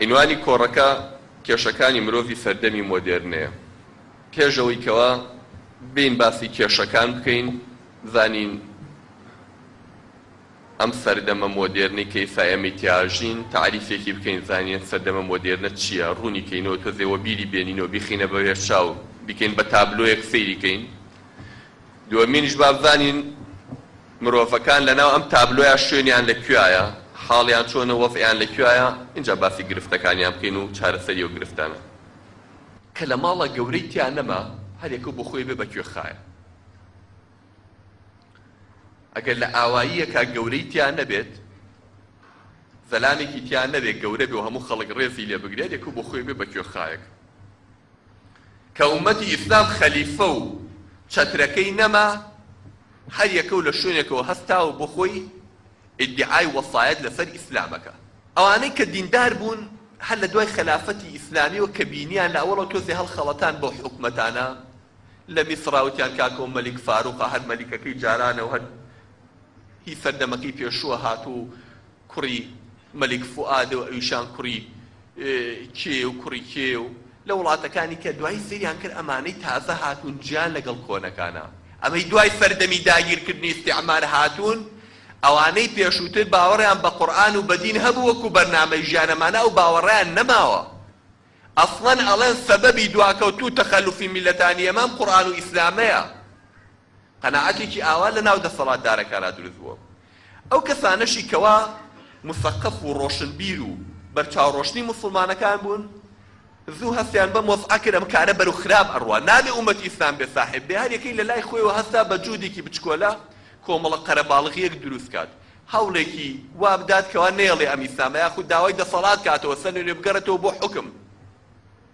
عینوانی کۆڕەکە کێشەکانی مرۆڤی سەردەمی مۆدێرنەیە. پێش ئەوەی کەوا بێین باسی کێشەکان بکەین، بزانین ئەم سەردەمە مۆدێرنەی کە ئیستا ئێمەی تیا ئەژین تەعریفێکی بکەین، بزانین ئەم سەردەمە مۆدێرنە چییە، ڕوونی کەینەوە، تۆزێ وەبیری بێنینەوە، بیخەینە بەرێچاو، بیکەین بە تابلۆیەک سەیری کەین. دووەمینیش با بزانین مرۆڤەکان لە ناو ئەم تابلۆیە شوێنیان لە کوێایە، حاڵیان چۆنە و وەزعیان لە کوێایە، ئینجا باسی گرفتەکانیان بکەین و چارەسەری ئەو گرفتانە. کە لە ماڵە گەورەی تیا نەما، هەر یەکە و بۆ خۆی بێ بە کوێخایە. ئەگەر لە ئاواییەکا گەورەی تیا نەبێت، زەلامێکی تیا نەبێ گەورە بێ و هەموو خەڵک ڕێزی لێ بگرێ، هەر یەکە و بۆ خۆی بێ بە کوێخایەک. کە ئوممەتی ئیسلام خەلیفە و چەترەکەی نەما، هەر یەکە و لە شوێنێکەوە هەستا و بۆ خۆی ئیدیعای وەسایەت لە سەر ئیسلام ئەکا. ئەوانەی کە دیندار بوون هەر لە دوای خەلافەتی ئیسلامیەوە کە بینیان لە ئەوەڵەوە تۆزێ هەڵخەڵەتان بەو حکومەتانە لە میسڕا وتیان کاکۆ مەلیک فاروقە هەر مەلیکەکەی جارانە و هەر هی سەردەمەکەی پێشووە هاتووە و کوڕی مەلیک فوئاد و ئەویشان کوڕی کێ و کوڕی کێ و لە وڵاتەکانی کە دوایی سەیریان کرد ئەمانەی تازە هاتوون جیان لەگەڵ کۆنەکانە ئەمەی دوای سەردەمی داگیرکردنی ئیستیعمار هاتوون ئەوانەی پێشووتر باوەڕیان بە قورئان و بە دین هەبوو وەکو بەرنامەی ژیان ئەمانە ئەو باوەڕەیان نەماوە ئەسڵەن ئەڵێن سەبەبی دواکەوتوو تەخەلوفی میللەتانی ئێمە ئەم قورئان و ئیسلامەیە. قەناعەتێکی ئاوا لەناو دەسەڵاتدارەکانا دروست بووە. ئەو کەسانەشی کەوا موسەقەف و ڕۆشنبیر و بەرچاوڕۆشنی موسڵمانەکان بوون، زوو هەستیان بەم وەزعە کرد، ئەم کارە بەرەو خراپ ئەڕوا، نابێ ئومەتی ئیسلام بێ ساحێب بێ، هەریەکەی لەلای خۆیەوە هەستا بە جوودێکی بچکۆلە کۆمەڵە قەرەباڵغییەک دروست کات، هەوڵێکی وا بدات کەوا نەیەڵێ ئەم ئیسلامە یاخود داوای دەسەڵات کاتەوە سەرلەنوێ بگەڕێتەوە بۆ حوکم.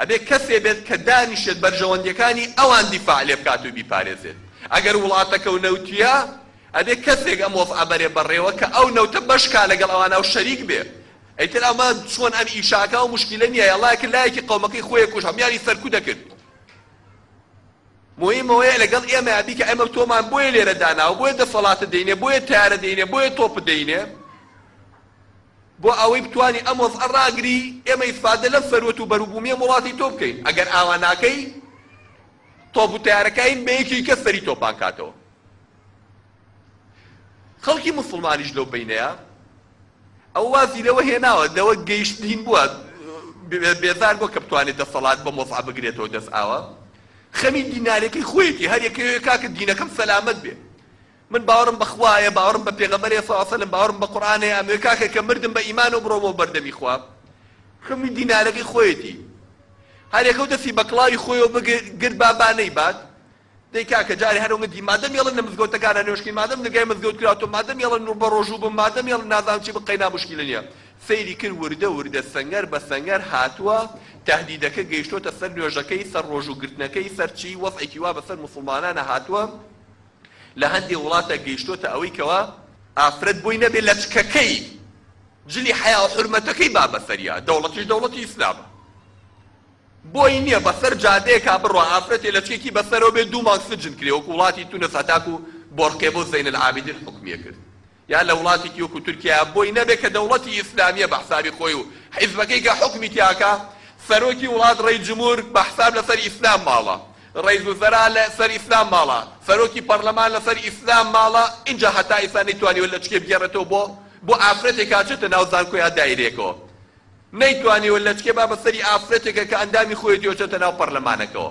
ئەبێت کەسێ بێت کە دانیشێت بەرژەوەندیەکانی ئەوان دیفاع لێ بکات و بیپارێزێت ئەگەر وڵاتەکەو نەوتیە ئەبێت کەسێک ئەم وەزعە بەرێ بەڕێوە کە ئەو نەوتە بەش کا لەگەڵ ئەوان ئەو شەریک بێ ئیتر ئەمە چۆن ئەم ئیشە ئەکا و موشکیلە نیە یەڵا کرد لایەکی قەومەکەی خۆی ئەکوژ هەمویانی سەرکو دەکرد موهیم ئەوەیە لەگەڵ ئێمە ئەبی کە ئێمە تۆمان بۆیە لێرە داناوە بۆیە دەسەڵاتت دەینێ بۆیە تەیارە دەینێ بۆیە تۆپت دەینێ بۆ ئەوەی بتوانی ئەم وەزعە ڕاگری ئێمە ئیسفادە لەم سەروەت و بەروبومیەم وڵاتی تۆ بکەین ئەگەر ئاوا ناکەی تۆپ و تەیارەکاین بە یەکی کەس سەری تۆپان کاتەوە خەڵکی مسلمانیش لەو بینەیە ئەو وازی لەوە هێناوە لەوە گەیشتین بووە بێزار بۆ کە بتوانێت دەسەڵات بە مۆزع بگرێتەوە دەست ئاوە خەمی دینارێکی خۆیەتی هەر یەکەوێ کاکە دینەکەم سەلامەت بێ من باوەڕم بە خوایە باوەڕم بە پێغەمبەرێ صلی اللە علیە و سلم باوەڕم بە قورئانێ ئەموێ کاکە کە مردم بە ئیمانەوە بڕۆ بۆ بەردەمی خوا خوێنی دینارەکەی خۆیەتی هەر یەکەو دەستی بە کڵاوی خۆیەوە بگرت با با نەیبات دەی کاکە جارێ هەر ئەوەندی مادەم یەڵن لە مزگەوتەکانا نوێژکەین مادەم نگای مزگەوت کراوەتەوە مادەم یەڵن و بە ڕۆژوو بم مادەم یەڵن نازانم چی بم قەینا موشکیلە نییە سەیری کرد وردە وردە سەنگەر بە سەنگەر هاتووە تەهدیدەکە گەیشتۆتە سەر نوێژەکەی سەر ڕۆژوو گرتنەکەی سەر چی وەزعێکی وا بەسەر موسڵمانانا هاتووە لە هەندێ وڵاتە گەیشتۆتە ئەوەی کەوا ئافرەت بۆی نەبێ لەچکەکەی جلی حەیاو حورمەتەکەی با بەسەریا دەوڵەتیش دەوڵەتی ئیسلامە بۆی نیە بەسەر جادەیەکا بڕوا ئافرەتێ لەچکێکی بەسەرەوە بێ دوو مانگ سجن کرێ وەکو وڵاتی تونس هەتاکو بۆرقێ بۆ زەین العابیدین حوکمیە کرد یان لە وڵاتێکی وەکو تورکیا بۆی نەبێت کە دەوڵەتی ئیسلامیە بە حسابی خۆی و حیزبەکەی کە حوکمی تیا ئەکا، سەرۆکی وڵات ڕەیس جمهور بە حساب لە سەر ئیسلام ماڵە، ڕەیس وزرا لە سەر ئیسلام ماڵە، سەرۆکی پەڕلەمان لە سەر ئیسلام ماڵە، ئینجا هەتا ئیستا نەیتوانیوە لەچکێ بگێڕێتەوە بۆ بۆ ئافرەتێکا چێتە ناو زانکۆ یا دایرێکەوە نەیتوانیوە لەچکێ با بە سەری ئافرەتێکە کە ئەندامی خۆیەتیەوە چێتە ناو پەڕلەمانەکەوە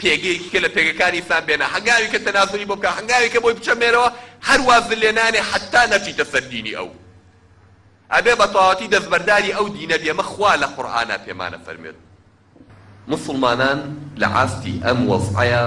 پێگەیەکی کە لە پێگەکانی ئیسلام بێنە هەنگاوی کە تەنازولی بۆ بکا هەنگاوی کە بۆی بچەمێنەوە هەر واز لێ نانێ حەتا نەچیتە سەر دینی ئەو ئەبێ بە تەواوەتی دەستبەرداری ئەو دینە بی ئەمە خوا لە قورئانا پێمان ئەفەرموێت موسڵمانان لە ئاستی ئەم وەزعەیا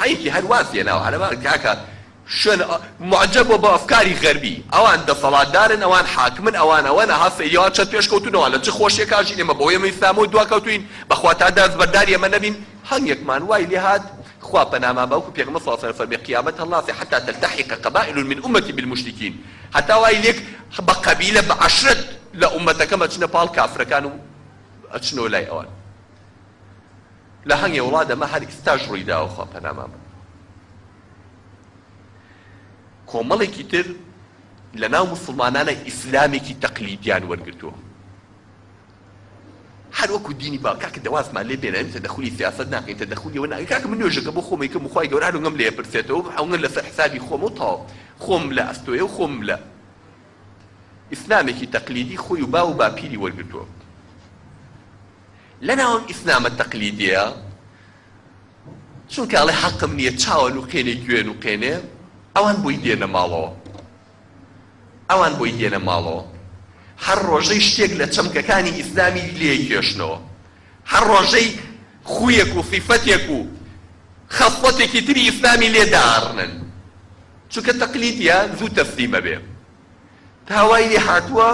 حەیفی هەر وات لێناوە هەرەمان کاکە شوێن موعجەب بۆ بە ئەفکاری غەربی ئەوان دەسەڵاتدارن ئەوان حاکمن ئەوان ئەوەنە ها سەیری ئەوان چەند پێشکەوتوون ئەوان لە چ خۆشیەک ئاژین ئێمە بەهۆی ئەمە ئیسلامەوە دواکەوتووین بەخوا تا دەستبەرداری ئەمە نەبین هەنگێکمان وای لێ هات خوا پەنامان بە وەکو پێغەمبەر صلی اللە علیە وسلم فەرمی قیامەت هەڵناسێ حتی تلتحق قبائل من امتی بالمشرکین هەتا وای لێک بە قەبیلە بە عەشرەت لە ئومەتەکەم ئەچنە پاڵ کافرەکان و ئەچنەوە لای ئەوان لە هەنگێ وڵات ئەمە هەر ئیستاش ڕوویداوە خوا پەنامان بە کۆمەڵێکی تر لە ناو مسلمانانە ئیسلامێکی تەقلیدیان وەرگرتووە هەر وەکو دینی با کاکە دەوازمان لێ بێنە ئەمتە دەخولی سیاست ناکەین تە دەخولیەوە ناکە کاکە من نوێژەکە بۆ خۆمی کە مخوای گەورانگەم لێ پرسێتەوە ئەوگەن لەسەر حسابی خۆم و تاو خۆم لە ئەستۆیە و خۆم لە ئیسلامێکی تەقلیدی خۆی و با و باپیری وەرگتووە لەناو ئەم ئیسلامە تەقلیدییە، چونکە ئەڵێ حەقم نییە، چاوە نوقێنێ گوێ نوقێنێ، ئەوان بۆی دێنە ماڵەوە. ئەوان بۆی دێنە ماڵەوە. هەر ڕۆژەی شتێک لە چەمکەکانی ئیسلامی لێیکێشنەوە. هەر ڕۆژەی خوویەک و سیفەتێک و خەسڵەتێکی تری ئیسلامی لێ داڕنن. چونکە تەقلیدییە زوو تەسلیم ئەبێ. تا وای لێ هاتووە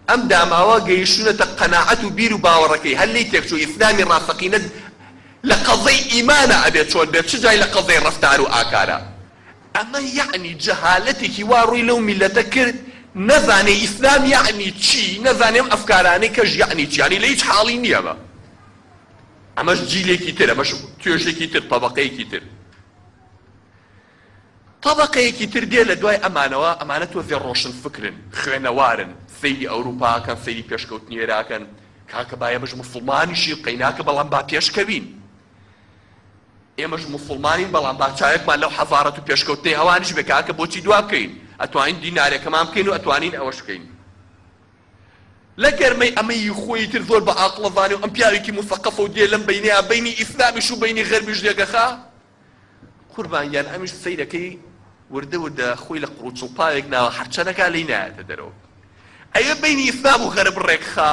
ئەم داماوە گەیشتوونەتە قەناعەت و بیر و باوەڕەکەی هەر لێی تێکچووە ئیسلامی ڕاستەقینە لە قەزەی ئیمانە ئەبێت چۆن بێت چ جای لە قەزەی ڕەفتار و ئاکارە. ئەمە یەعنی جەهالەتێکی وا ڕووی لەو میللەتە کرد نەزانێ ئیسلام یەعنی چی نەزانێ ئەم ئەفکارانەی کەش یەعنی چی یەعنی لە هیچ حاڵی نییە ئەمە ئەمەش جیلێکی تر ئەمەش توێژێکی تر تەبەقەیەکی تر تەبەقەیەکی تر دێ لە دوای ئەمانەوە، ئەمانە تۆزێ ڕۆشنفکرن، خوێنەوارن، سەیری ئەوروپا ئەکەن، سەیری پێشکەوتنی ئێرە ئەکەن، کاکە با ئێمەش موسڵمانیشین، قەیناکە بەڵام با پێشکەوین، ئێمەش موسڵمانین بەڵام با چاوێکمان لەو حەزارەت و پێشکەوتنەی ئەوانیش بێ، کاکە بۆچی دوا بکەوین، ئەتوانین دینارێکەمان بکەین و ئەتوانین ئەوەش بکەین. لە گەرمەی ئەمە ی خۆی ئیتر زۆر بە ئاقڵە زانێ و ئەم پیاوێکی موسەقەفە و دێ لەم بەینەیا بەینی ئیسلامیش و بەینی غەربیش لێگەخا، قوربان گیان ئەمیش سەیرەکەی وردە وردە خۆی لە قڕو چڵپاوێک ناوە هەر چەنەکا لێی نایەتە دەرەوە ئەیە بینی ئیسلام و غەرب ڕێکخا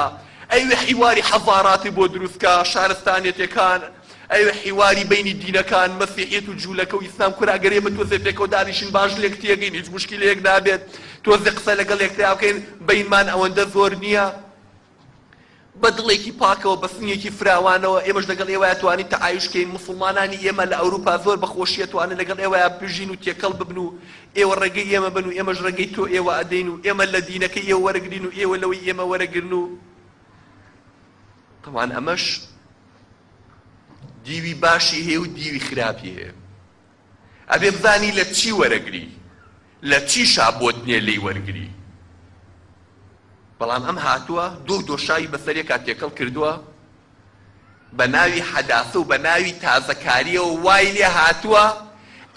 ئەیوێ حیواری حەزاراتی بۆ دروستکا شارستانیەتەکان ئەوێ حیواری بینی دینەکان مەسیحیەت و جوولەکە و ئیسلام کورە ئەگەر ئێمە تۆزێ پێکەوە دانیشین باش لێک تێگەین هیچ موشکیلەیەک نابێت تۆزێ قسە لەگەڵ یەکترا بکەین بینمان ئەوەندە زۆر نییە بە دڵێکی پاکەوە، بە سنگێکی فراوانەوە، ئێمەش لەگەڵ ئێوەیا توانین تەعایوش کەین، موسڵمانانی ئێمە لە ئەوروپا زۆر بە خۆشی ئەتوانن لەگەڵ ئێوەیا بژین و تێکەڵ ببن و ئێوە ڕێگەی ئێمە بن و ئێمەش ڕێگەی تۆ ئێوە ئەدەین و ئێمە لە دینەکەی ئێوە وەرەگرین و ئێوە لەوەی ئێمە وەرەگرن و تەبعەن ئەمەش دیوی باشی هەیە و دیوی خراپی هەیە. ئەبێ بزانی لە چی وەرەگری لە چیشا بۆت نیە لێی وەرگری بەڵام ئەم هاتووە دو دۆشاوی بەسەرێکا تێکەڵ کردووە بە ناوی حەداسە و بە ناوی تازەکاریەوە وای لێ هاتووە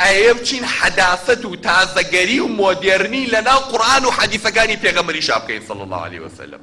ئەیە بچین حەداسەت و تازەگەری و مۆدێرنی لە ناو قورئان و حەدیسەکانی پێغەمبەریشا بکەین صلی اللە علیە وسلم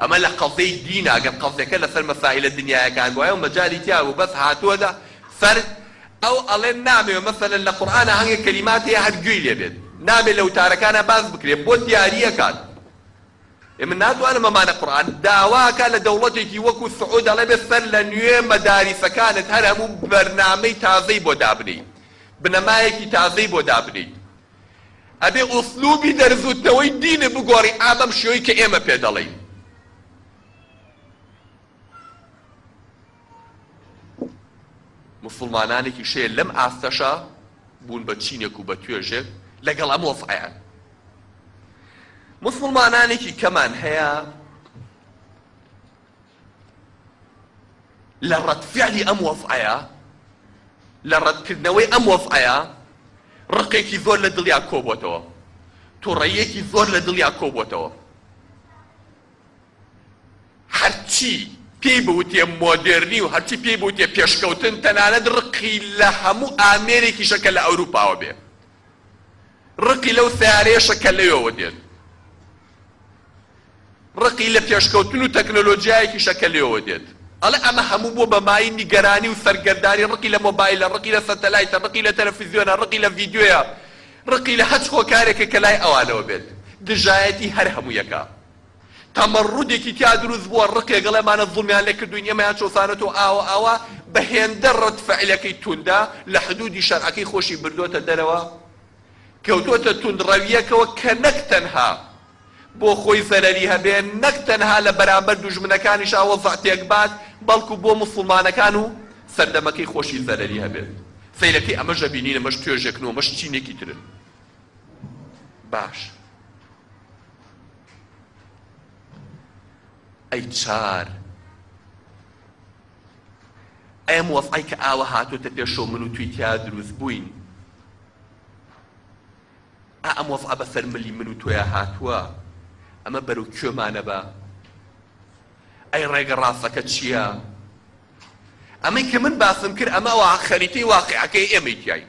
ئەمە لە قەزێی دینە ئەگەر قەزێکە لەسەر مەسائیلە دنیایەکان بوایە و مەجالی تیا بوو بەس هاتووەتە سەر ئەو ئەڵێن نامەوێ مەسەلەن لە قورئانا هەنگێ کەلیمات هەیە هەر گوێی لێ بێت نابێ لە وتارەکانا باس بکرێ بۆ دیاری ئەکات ئێمە ناتوانم بمانە قورئان داوا ئەکا لە دەوڵەتێکی وەکوو سعوود ئەڵێ بێ سەر لە نوێ مەداریسەکانت هەر هەموو بەرنامەی تازەی بۆ دابنێی بنەمایەکی تازەی بۆ دابنێیت ئەبێ ئوسلوبی دەرزوتنەوەی دینت بگۆڕی ئا بەم شێوەی کە ئێمە پێ دەڵێین. موسڵمانانێکیش هەیە لەم ئاستەشە بوون بە چینێک و بە توێژێک لەگەڵ ئەم وەزعەیان. موسڵمانانێکی کەمان هەیە لە ڕەدفیعلی ئەم وەزعەیا، لە ڕەدکردنەوەی ئەم وەزعەیا ڕقێکی زۆر لە دڵیا کۆبووەتەوە، توڕەییەکی زۆر لە دڵیا کۆبووەتەوە. هەرچی پێی بوترێ مۆدێرنی و هەرچی پێی بوترێ پێشکەوتن، تەنانەت ڕقی لە هەموو ئامێرێکیشە کە لە ئەوروپاوە بێ. ڕقی لەو سەیارەیەشە کە لەوێوە دێت، ڕقی لە پێشکەوتن و تەکنۆلۆجیایەکیشە کە لەوێوە دێت. ئەڵێ ئەمە هەموو بووە بە مایەی نیگەرانی و سەرگەردانی، ڕقی لە مۆبایلە، ڕقی لە سەتەلایتە، ڕقی لە تەلەفیزیۆنە، ڕقی لە ڤیدیۆیە، ڕقی لە هەچ هۆکارێکە کە لای ئەوانەوە بێت. دژایەتی هەر هەموویەکە. تەمەڕودێکی تیا دروست بووە ڕقێک ئەڵێ ئەمانە زوڵمیان لێ کردووین ئێمەیان چەوسانەتەوە ئاوە ئاوا بە هێندە ڕەد فعلەکەی توندە لە حدودی شەرعەکەی خۆشی بردۆتە دەرەوە کەوتۆتە توند ڕەویەکەوە کە نەک تەنها بۆ خۆی زەرەری هەبێ نەک تەنها لە بەرامبەر دوژمنەکانیشا وەزع تێک بات بەڵکو بۆ موسوڵمانەکان و سەردەمەکەی خۆشی زەرەری هەبێت سەیرەکەی ئەمەش ئەبینین ئەمەش توێژێکن و ئەمەش چینێکی ترن باش. ئەی چار ئەم وەزعەی کە ئاوە هاتۆتە پێشەوە من و توی تیا دروست بووین ئا ئەم وەزعە بەسەر ملی من و تۆیا هاتووە ئەمە بەرەو کوێمانە بە ئەی ڕێگە ڕاستەکە چییە؟ ئەمەی کە من باسم کرد ئەمە وا خەریتەی واقعەکەی ئێمەی تیاین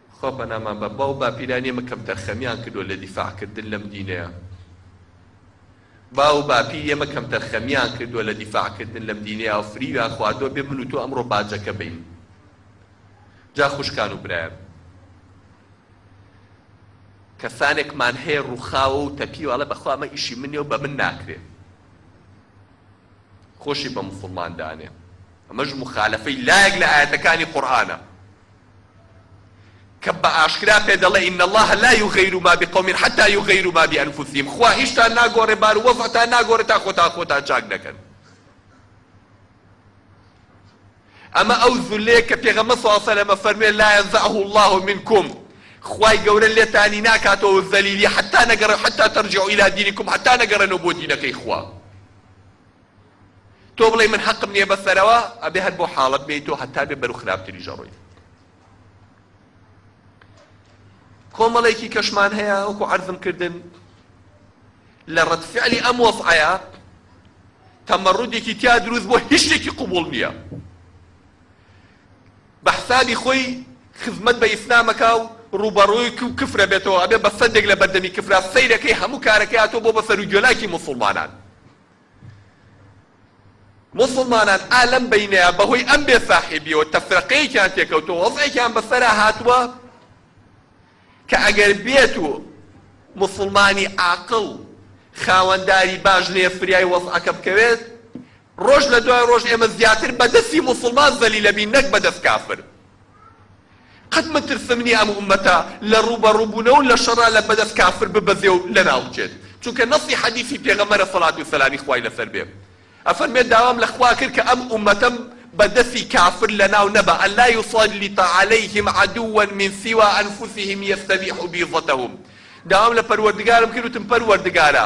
خوا پەنامان بە باو باپیرانی ئەمە کەم تەرخەمیان کردوە لە دیفاع کردن لەم دینەیا باو باپیری ئەمە کەم تەرخەمیان کردوە لە دیفاع کردن لەم دینەیاو فریویان خواردوە بێ من و تۆ ئەمڕۆ باجەکە بین جا خوشکان و برایان کەسانێکمان هەیە ڕوخاوە و تەپیوە ئەڵێ بەخوا ئەمە ئیشی منێ و بە من ناکرێ خۆشی بە مسلمان دانێ ئەمەش مخالفەی لایەک لە ئاەتەکانی قورئانە کە بە ئاشکرا پێ دەڵێ، ان اللە لا یغیر ما بقوم حتی یغیروا ما بانفسهم، خوا ئیشتان ناگۆڕێ بار و وەزعتان ناگۆڕێ تا خۆتان خۆتان چاک نەکەن. ئەمە ئەو زولەیە کە پێغەمبەر صلی اللە علیە و سلم فەرموێ، لا ینزعه اللە منکم، خوای گەورە لێتانی ناکاتەوە زەلیلی حتی نەگەڕێ، حتی ترجعوا الی دینکم، حتی نەگەڕێنەوە بۆ دینەکەی خوا. تۆ بڵێی من حەقم نیە بەسەرەوە ئەبێ هەر بۆ حاڵەت بێی تۆ هەتا بێ بەرو خراپتریش ئەڕۆی کۆمەڵێکی کەشمان هەیە وەکو عەرزم کردن لە ڕەد فعلی ئەم وەزعەیە تەمەڕودێکی تیا دروست بۆ هیچ شتێکی قوبوڵ نییە بە حسابی خۆی خزمەت بە ئیسلامەکە و ڕوبەڕووی و کفرە بێتەوە ئەبێ بە سەدێک لە بەردەمی کفرا سەیرەکەی هەموو کارەکەی هاتۆ بۆ بە سەر و گوێلاکی مسلمانان موسڵمانان ئا لەم بەینەیا بەهۆی ئەم بێ ساحێبیەوە تەفرەقەیەکیان تێکەوتوە وەزعێکیان بەسەرا هاتوە کە ئەگەر بێت و موسڵمانی عاقڵ خاوەنداری باش نەیە فریای وەزعەکە بکەوێت ڕۆژ لە دوای ڕۆژ ئێمە زیاتر بە دەستی موسڵمان زەلیلەبین نەک بە دەست کافر. قەت مەترسم نیە ئەم ئومەتە لە ڕوبەڕوبونەوە لە شەڕا لە بەدەست کافر ببەزێ و لەناو بچێت چونکە نەصی حەدیسی پێغەمبەرە سەڵات و سەلامی خوای لەسەر بێ ئەفەرمێت داوام لە خوا کرد کە ئەم ئومەتەم بە دەسی کافر لەناو نەبا ان لا یسلط علیهم عدوا من سوی انفسهم یستبیح بیضتهم داوام لە پەروەردگارم کرد وتم پەروەردگارا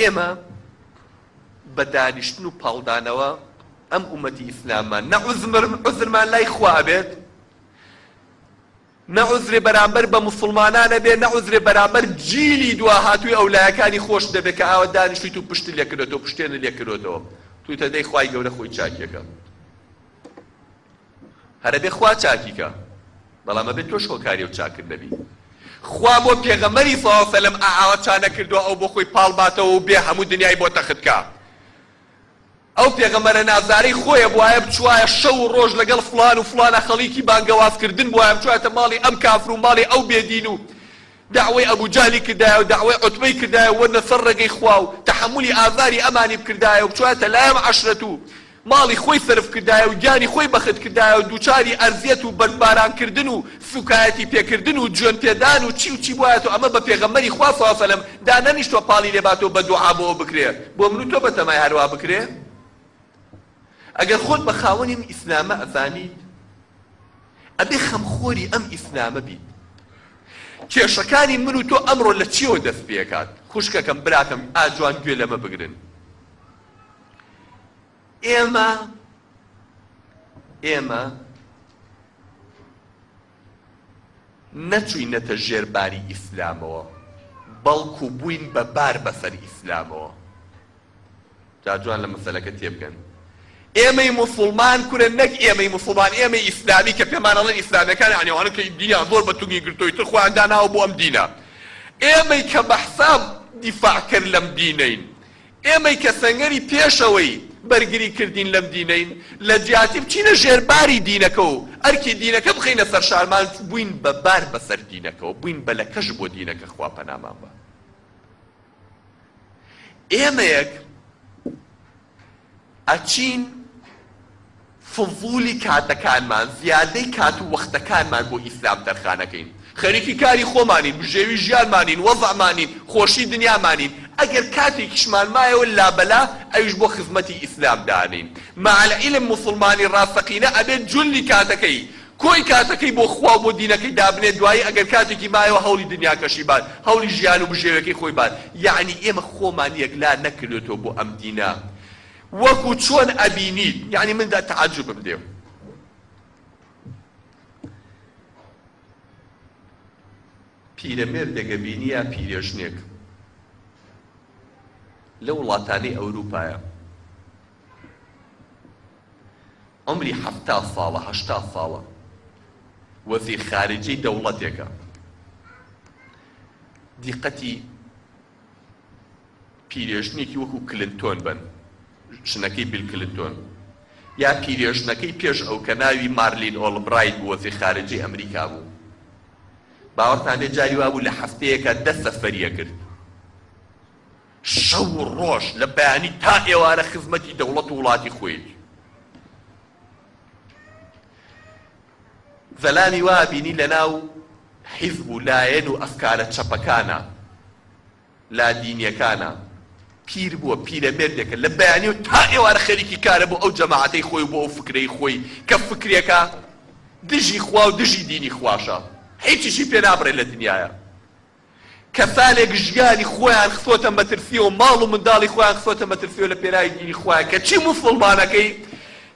ئێمە بە دانیشتن و پاڵدانەوە ئەم ئومەتی ئیسلاممان نە عوزمر عوزرمان لای خوا ئەبێت نە عوزرێ بەرامبەر بە موسڵمانان ئەبێ نە عوزرێ بەرامبەر جیلی دوا هاتووی ئەو لایەکانی خۆش دەبێت کە ئاوە دانیشتویت و پشت لێ کردێتەوە پشتێنە لێ کردێتەوە توتە دەی خوای گەورە خۆی چاکیەکە هەر ئەبێ خوا چاکی کا بەڵام ئەبێ تۆش هۆکاری ئەو چاکن نەبی خوا بۆ پێغەمبەری صلی اللە سلم ئا ئاوا چا نەکردوە ئەو بۆ خۆی پاڵ باتەوە و بێ هەموو دنیای بۆ تەخت کا ئەو پێغەمبەرە نازارەی خۆیە بوایە بچوایە شەو و ڕۆژ لەگەڵ فڵان و فڵانە خەڵیکی بانگەواز کردن بوایە بچوایەتە ماڵی ئەم کافر و ماڵی ئەو بێ دین و دەعوەی ئەبو جەهلی کردایە و دەعوەی عوتبەی کردایە و وەرنە سەر ڕێگەی خوا و تەحەمولی ئازاری ئەمانی بکردایە و بچوایەتە لای ئەم عەشرەت و ماڵی خۆی سەرف کردایە و گیانی خۆی بەخت کردایە و دووچاری ئەزیەت و بەردباران کردن و سووکایەتی پێ کردن و جوێن پێ دان و چی و چی بوایەتۆ ئەمە بە پێغەمبەری خوا صلی اللە سلم دا نەنیشتوە پاڵی لێ باتۆ بە دوعا بۆ ئەو بکرێ بۆ من و تۆ بەتەمای هەر وا بکرێ ئەگەر خۆت بە خاوەنی ئەم ئیسلامە ئەزانیت ئەبێ خەم خۆری ئەم ئیسلامە بیت کێشەکانی من و تۆ ئەمڕۆ لە چیەوە دەست پێ کات خوشکەکەم براکەم ئاجوان گوێ لەمە بگرن ئێمە ئێمە نەچوینەتە ژێر باری ئیسلامەوە بەڵکو بووین بە بار بەسەر ئیسلامەوە جاجوان لە مەسەلەکە تێبگەن ئێمەی مسلمان کورە نەک ئێمەی مسلمان ئێمەی ئیسلامی کە پێمانەڵەن ئیسلامەکان عنیوانە کە دینیان زۆر بە تونگی گرتۆی تر خۆیان داناوە بۆ ئەم دینە ئێمەی کە بەحساب دیفاع کرد لەم دینین ئێمەی کە سەنگەری پێشەوەی بەرگری کردین لەم دینەین لە جیاتی بچینە ژێر باری دینەکە و ئەرکی دینەکە بخەینە سەر شانمان بووین بە بار بەسەر دینەکەوە بووین بە لەکەش بۆ دینەکە خوا پەنامان با ئێمەیەک ئەچین فضولی کاتەکانمان، زیادەی کات و وەختەکانمان بۆ ئیسلام تەرخانەکەین. خەریکی کاری خۆمانین، بژێوی ژیانمانین، وەزعمانین، خۆشی دنیامانین، ئەگەر کاتێکیشمان مایەوە لابەلا ئەویش بۆ خزمەتی ئیسلام دانێین. مع العلم موسڵمانی ڕاستەقینە ئەبێت جلی کاتەکەی، کۆی کاتەکەی بۆ خوا و بۆ دینەکەی دابنێت، دوایی ئەگەر کاتێکی مایەوە هەوڵی دنیاکەشی بات، هەوڵی ژیان و بژێویەکەی خۆی بات. یەعنی ئێمە خۆمان یەکلا نەکردۆتەوە بۆ ئەم دینە. وەکو چۆن ئەبینیت یانی من دە تەعەجوبم دێ و. پیرەمێردێک ئەبینی یا پیرێژنێک لە وڵاتانی ئەوروپایە عەمری حەفتا ساڵە هەشتا ساڵە وەزیر خارجی دەوڵەتێکە دیقەتی پیرێژنێکی وەکو کلنتۆن بن ژنەکەی بیل کلنتۆن یا پیرێژنەکەی پێش ئەو کە ناوی مارلین ئۆڵبرایت بوو وەزیر خارجەی ئەمریکا بوو باوەڕتان بێ جاری وابوو لە هەفتەیەکە دە سەفەری ئەکرد شەو و ڕۆژ لە بەیانی تا ئێوارە خزمەتی دەوڵەت و وڵاتی خۆیەتی زەلامی وا بینی لە ناو حیزب و لایەن و ئەفکارە چەپەکانا لادینیەکانا پیر بووە پیرەمێردێکە لە بەیانیو تا ئێوارە خەریکی کارە بۆ ئەو جەماعەتەی خۆی و بۆ ئەو فکرەی خۆی کە فکرێکە دژی خوا و دژی دینی خواشە هیچیشی پێ نابڕێ لە دنیایا کەسانێک ژیانی خۆیان خستۆتە مەترسیەوە ماڵ و منداڵی خۆیان خستۆتە مەترسیەوە لە پێناوی دینی خوایە کەچی موسوڵمانەکەی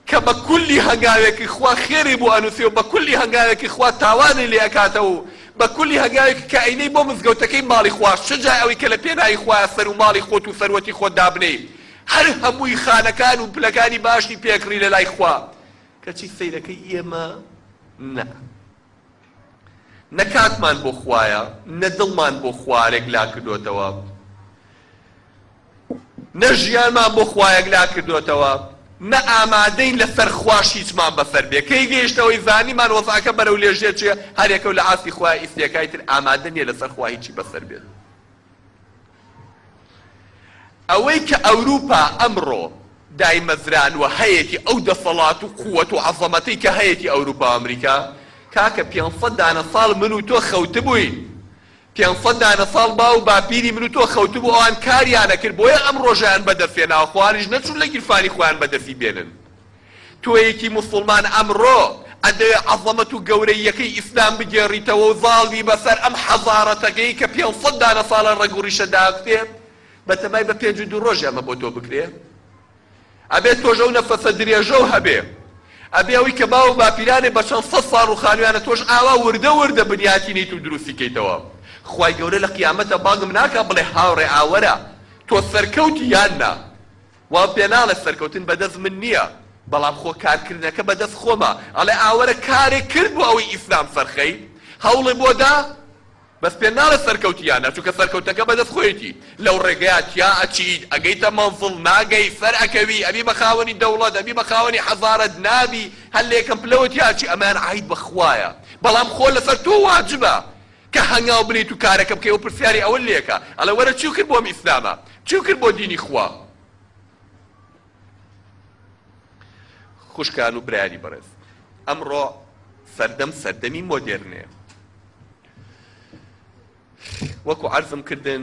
کە بە کولی هەنگاوێکی خوا خێری بۆ ئەنوسێ و بە کولی هەنگاوێکی خوا تاوانی لێ ئەکاتەوە و بە کولی هەنگاوێکی کە ئەینێی بۆ مزگەوتەکەی ماڵی خوا چ جای ئەوی کە لە پێناوی خوایە سەر و ماڵی خۆت و سەروەتی خۆت دابنێی هەر هەمووی خانەکان و پلەکانی باشی پێکڕی لە لای خوا کەچی سەیرەکەی ئێمە نا. نە کاتمان بۆ خوایە نە دڵمان بۆ خوارێک لاکردۆتەوە نە ژیانمان بۆ خوایەک لاکردۆتەوە نە ئامادەین لە سەر خواش هیچمان بەسەر بێ کەی گەیشتە ئەوەی زانیمان وەزعەکە بەرەو لێژێ چێ هەرێکەو لە ئاستی خوا ئیستێکای تر ئامادە نیە لە سەر خوا هیچی بەسەر بێت ئەوەی کە ئەوروپا ئەمڕۆ دایمەزرانوە هەیەتی ئەو دەسەڵات و قوەت و عەزەمەتەی کە هەیەتی ئەوروپا و ئەمریکا کاکە پێنج سەد دانە ساڵ من و تۆ خەوتبووین پێنج سەد دانە ساڵ باو و باپیری من و تۆ خەوتبوو ئەوان کاریان ئەکرد بۆیە ئەم ڕۆژەیان بەدەست هێناوە خۆیانیش نەچوون لە گیرفانی خۆیان بەدەستی بێنن تۆیەکی موسوڵمان ئەمڕۆ ئەدەوێ عەزەمەت و گەورەییەکەی ئیسلام بگێڕیتەوە و زاڵ بی بەسەر ئەم حەزارەتەکەی کە پێنج سەد دانە ساڵە ڕەگ و ڕیشە داکوتێ بەتەمای بە پێنج و دوو ڕۆژێ ئەمە بۆ تۆ بکرێ؟ ئەبێ تۆش ئەو نەفەسە درێژەو هەبێ ئەبێ ئەوەی کە باو و باپیرانێ بە چەند سەد ساڵ ڕوخانویانە تۆش ئاوا وردە وردە بنیاتینیت و دروستی کەیتەوە خوای گەورە لە قیامەتا بانگم ناکا بڵێ هاوڕێ ئاوەرە تۆ سەرکەوتی یان نا؟ وام پێ ناڵێ سەرکەوتن بەدەست من نیە بەڵام خۆ کارکردنەکە بەدەست خۆمە ئەڵێ ئاوەرە کارێک کرد بۆ ئەوەی ئیسلام سەرخەی هەوڵێ بۆ دا بەس پێ ناڵێ سەرکەوتی یان نا چونکە سەرکەوتنەکە بەدەست خۆیەتی لەو ڕێگەیا تیا ئەچیت ئەگەیتە مەنزڵ ناگەی سەر ئەکەوی ئەبی بە خاوەنی دەوڵەت ئەبی بە خاوەنی حەزارەت نابی هەر لە یەکەم پلەوە تیا ئەچی ئەمەیان عەید بە خوایە بەڵام خۆ لەسەر تۆ واجبە کە هەنگاو بنێیت و کارەکە بکەی ئەو پرسیاری ئەوە لێکە ئەڵێ وەرە چیو کرد بۆم ئیسلامە چیو کرد بۆ دینی خوا خوشکان و برایانی بەڕێز ئەمڕۆ سەردەم سەردەمی مۆدێرنێ وەکو عەرزم کردن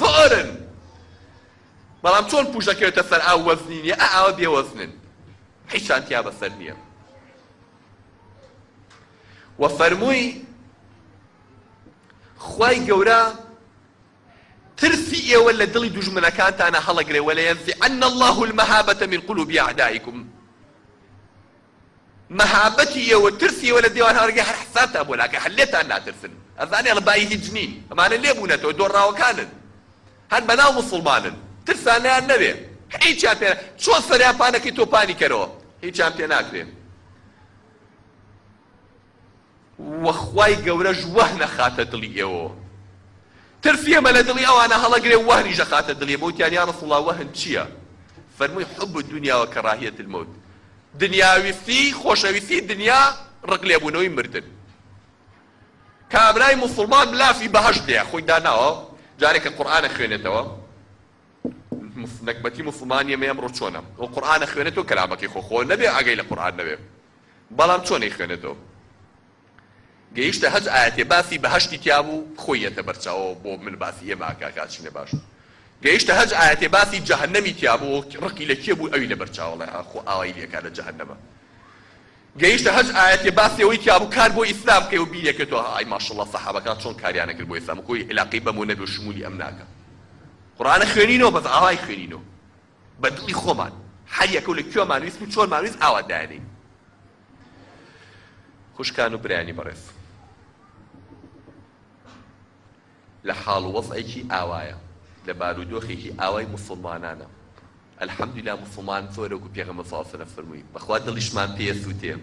زۆرن بەڵام چۆن پوش دەکەوێتە سەر ئاو وەزنی نیە ئا ئاوە بێ وەزنن هیچان تیا بەسەر نیە و فەرمووی خوای گەورە ترسی ئێوە لە دڵی دوژمنەکانتانە هەڵەگرێ وەلە یەنزیعن الله المهابة من قلوب اعدائکم مەهابەتی یە و ترسی یە لە دێوان هاورگێ هەر حسابتان بۆ ناکەن هەر لێتان ناترسن ئەزانێ ڵە بایی هیچ نین ئەمانە لێ بونەتەوە دۆڕاوەکانن هەر بە ناو موسڵمانن ترسان لێیان نەبێ هیچیان پێ چۆن سەریان پانەکەی تۆ پانی کەرەوە هیچیان پێ ناکرێ. وە خوای گەورەش وه نەخاتە دڵی ئێوەوە ترسی ئێمە لە دڵی ئەوانە هەڵەگرێ و وەهنیش نەخاتە دڵی ئێمە وتیان یا رسول اللە وەهن چیە فەرمووی حب الدنیا و کراهیە الموت دنیاویستی خۆشەویستی دنیا رق لێبوونەوەی مردن کابرای موسڵمان لافی بەهەشت لێ خۆی داناوە جارێک کە قورئانە خوێنێتەوە نەکبەتی موسڵمانیە مە ئەمڕۆ چۆنە و قورئانە خوێنێتەوە کەلامەکەی خۆ خۆ نەبێ ئاگەی لە قورئان نەبێ بەڵام چۆن ئەیخوێنێتەوە؟ گەیشتە هەج ئایەتێ باسی بەهەشتی تیا بوو خۆی ئێتە بەر چاوەوە بۆ من باسی ئێمە ئەکا کە ئەچینە باشوور گەیشتە هەج ئایەتێ باسی جەهەنەمی تیا بوو ڕقی لە کێ بوو ئەوی لە بەر چاوە ئەڵێ ها خۆ ئاوای لێ کا لە جەهەنەمە گەیشتە هەج ئایەتێ باسی ئەوەی تیا بوو کار بۆ ئیسلام کەی و بیر ئەکەیتەوە ها ئای ماشەڵڵا سەحابەکان چۆن کاریان ئەکرد بۆ ئیسلام و کۆی ئیلاقەی بەمۆ نەبێ و شموولی ئەم ناکا قورئانە خوێنینەوە بەس ئاوای خوێنینەوە بە دڵی خۆمان هەر یەکە و لە کوێمان ویست و چۆنمان ویست ئاوا دایانێین. خوشکان و برایانی بەڕێز لە حاڵ و وەزعێکی ئاوایە لە بارودۆخێکی ئاوای موسڵمانانە الحمدللە موسڵمان زۆر وەکو پێغەمبەر صلی اللە علیه و سلم فەرمووی بەخوا دڵیشمان پێیە سووتێ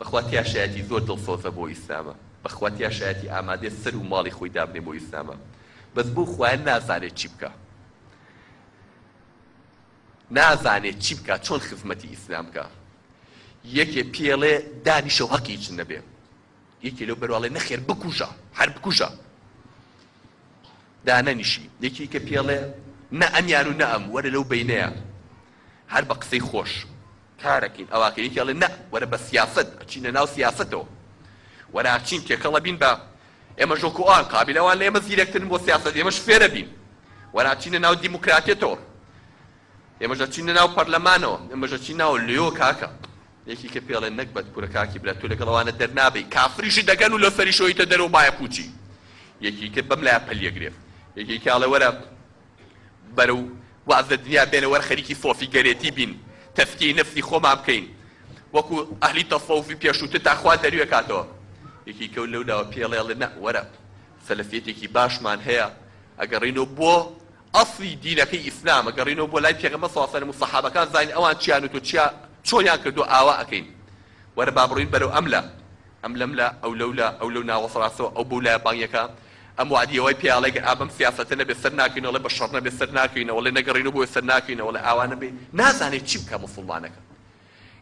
بەخوا تیا شایەتی زۆر دڵسۆزە بۆ ئیسلامە بەخوا تیا شایەتی ئامادەیە سەر و ماڵی خۆی دابنێ بۆ ئیسلامە بەس بۆ خوایە نازانێت چی بکە نازانێ چی بکا چۆن خزمەتی ئیسلام بکا یەکێ پێڵێ دانیشە و هەقی هیچ نەبێ یەکێ لەو بەرواڵێ نەخێر بکوژە هەر بکوژە دانەنیشی یەکی کە پێڵێ نە ئەمیان و نە ئەم وەرە لەو بینەیە هەر بە قسەی خۆش کارەکەین ئەواکە یەکێڵێ نە وەرە بە سیاست ئەچینە ناو سیاستەوە وەراچین تێکەڵە بین بە ئێمە ژۆک و ئان قابیل ئەوان لە ئێمە زیرەکترن بۆ سیاسەت ئێمەش فێرە بین وەر ئەچینە ناو دیموکراتێتەوە ئێمەش ئەچینە ناو پەرلەمانەوە ئێمەش ئەچین ناو لۆ کاکە یەکی کە پێڵێ نەگبەت کورە کاکی برا تۆ لەگەڵ ئەوانە دەرنابەی کافریشی دەگەن و لۆ سەری شۆیتە دەرەوە بایە پووچی یەکی تر بەم لایە پەلیەگرێ یەکێکی ئەڵێ وەرە بەرەو واز لە دنیا بێنە وەر خەریکی سۆفی گەرێتی بین تەزکیەی نەفسی خۆمان بکەین وەکو ئەهلی تەسەوفی پێشووتر تا خوا دەروێ کاتەوە یەکیکەو لەو لاوە پێڵێڵێ نە وەرە سەلەفیەتێکی باشمان هەیە ئەگەڕینەوە بۆ ئەسڵی دینەکەی ئیسلام ئەگەڕینەوە بۆ لای پێغەمبەر صلی اللە علیە و سەلەم و سەحابەکان زانین ئەوان چیان و تۆ چیا چۆنیان کردووە ئاوا ئەکەین وەرە با بڕۆین بەرەو ئەم لا ئەم لەم لا ئەو لەو لا ئەو لەو ناوەسڕاستەوە ئەو بەو لایە بانگێکا ئەم وەعدیە وای پێ ئەڵێ گەر ئابەم سیاسەتە نەبێ سەر ناکەینەوە ئەڵێ بە شەڕ نەبێ سەر ناکەینەوە ئەڵێ نەگەڕینەوە بۆ سەر ناکەینەوە ئەڵێ ئاوا نەبێ نازانێ چی بکا موسوڵمانەکە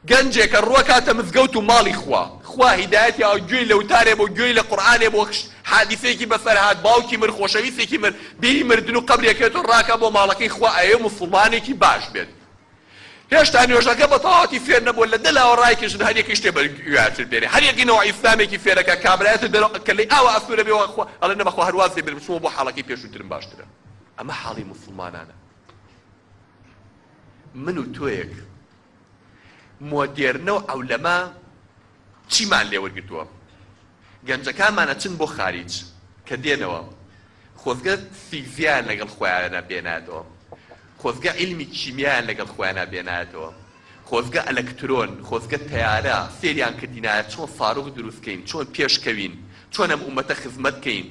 گەنجێکە ڕوەکاتە مزگەوت و ماڵی خوا خوا هیدایەتی ئەوە گوێی لە وتارێ بۆ گوێی لە قورعانێ بۆ حادیسێکی بەسەر هات باوکی مرد خۆشەویستێکی مرد بیری مردن و قەبرێ کەێتۆ ڕاکا بۆ ماڵەکەی خوا ئەیەوێ موسوڵمانێکی باش بێت هێشتا نوێژەکە بە تەواوەتی فێر نەبووە، لە دە لاوە ڕایکێشن هەر یەکەی شتێ بەرگوێیارتر بێنێ، هەر یەکەی نەوەی ئیسلامێکی فێرەکە، کابرایەتر دەرەوە کەللەی ئاوا ئەسوورە بێ و ئەڵێ نە بەخوا هەر واز لێ بێنم بچمەوە بۆ حاڵەکەی پێشووترم باشترە. ئەمە حاڵی موسڵمانانە. من و تۆیەک مۆدێرنە و عەولەمە چیمان لێ وەرگرتووە گەنجەکانمان ئەچن بۆ خاریج کە دێنەوە خۆزگە فیزیایان لەگەڵ خۆیانە بێنایەتەوە خۆزگە عیلمی کیمیایان لەگەڵ خۆیانە بێنایەتەوە خۆزگە ئەلەکترۆن خۆزگە تەیارە فێریان کردینایە چۆن ساروخ دروست کەین چۆن پێش کەوین چۆن ئەم ئومەتە خزمەت کەین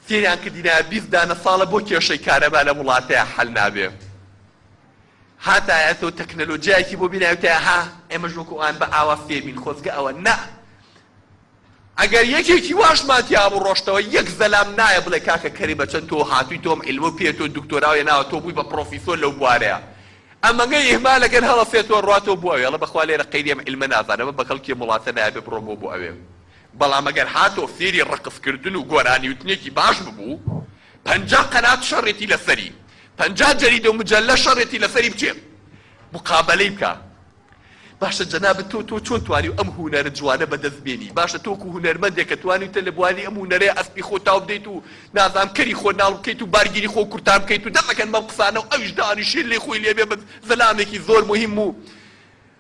فێریان کردینایە بیست دانە ساڵە بۆ کێشەی کارەبا لەم وڵاتەیا حەل نابێ. هاتایەتەوە تەکنەلۆجیایەکی بۆ بینایوتایە ها ئێمەش وەکو ئان بە ئاوا فێربین خۆزگە ئەوە نا ئەگەر یەکێکی واشمان تیابوو ڕۆشتەوە یەک زەلام نایە بڵێ کاکە کەرێ بە چەن تۆ هاتوی تۆم عیلمە پێ تۆ دکتۆراو هێناوە تۆ بوی بە پڕۆفیسۆر لەو بوارەیا ئەمەگەی ئیهمالەکەن هەڵەسێتەوە ڕاتەوە بۆ ئەوێڵە بەخوا لێرە قەیری ئەم عیلمە نازانم ئەمە بەکەڵکی ئەم وڵاتە نایابێ بڕۆمەوە بۆ ئەوێ بەڵام ئەگەر هاتەوە فێری ڕەقس کردن و گۆرانیوتنێکی باش ببوو پەنجا قەنات شەڕێتی لەسەری پەنجا جەریدە و مجەلە شەڕێتی لەسەری بچێ مقابەلەی بکا باشە جەنابت تۆ تۆ چۆن توانی ئەم هونەرە جوانە بەدەست بێنی باشە تۆکو هونەرمەندێک کە توانیوتە لە بواری ئەم هونەرەیە ئەسپی خۆ تاو بدەیت و نازانم کەری خۆ ناڵ بکەیت و بارگیری خۆ کورتان بکەیت و دەمەکەن بەم قسانە و ئەویش دانیشێ لێ خۆی لێ بێ بە زەلامێکی زۆر موهیم و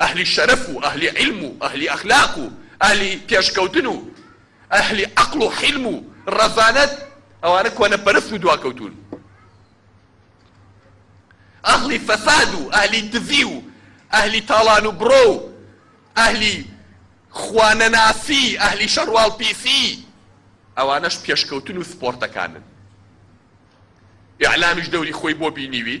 ئەهلی شەرەف و ئەهلی عیلم و ئەهلی ئەخلاق و ئەهلی پێشکەوتن و ئەهلی عەقڵ و حیلم و ڕەزانەت ئەوانە کۆنەپەرست و دواکەوتوون ئەهلی فەساد و ئەهلی دزی و ئەهلی تاڵان و بڕۆ و ئەهلی خوانەناسی ئەهلی شەڕواڵ پیسی ئەوانەش پێشکەوتن و سپۆرتەکانن ئیعلامیش دەوری خۆی بۆ بینیوی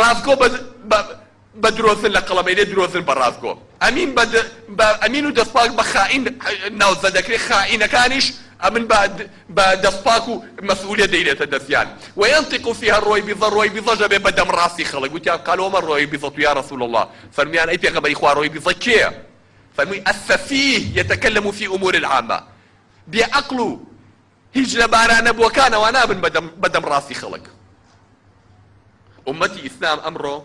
ڕاستگۆ بە بە بە درۆزن لە قەڵەمەیلێ درۆزن بە ڕاستگۆ ئەمین بە د بە ئەمین و دەستپاک بە خائین ناوزەد دەکرێ خائینەکانیش ئەمن بە د بە دەستپاک و مەسئولیەت دەیلێتە دەسیان وینطق فیها الرویبضە رویبضەش ئەبێ بە دەم ڕاستی خەڵک وتیان قالوا وما الرویبضە یا رسول اللە فەرمویان ئەی پێغەمبەری خوا رویبضە کێیە فەرموی السفیه یتکلم فی امور العامە بێ عەقڵ و هیچ لە بارانەبووەکانەوە نابن بە دەم ڕاستی خەڵک. ئوممەتی ئیسلام ئەمڕۆ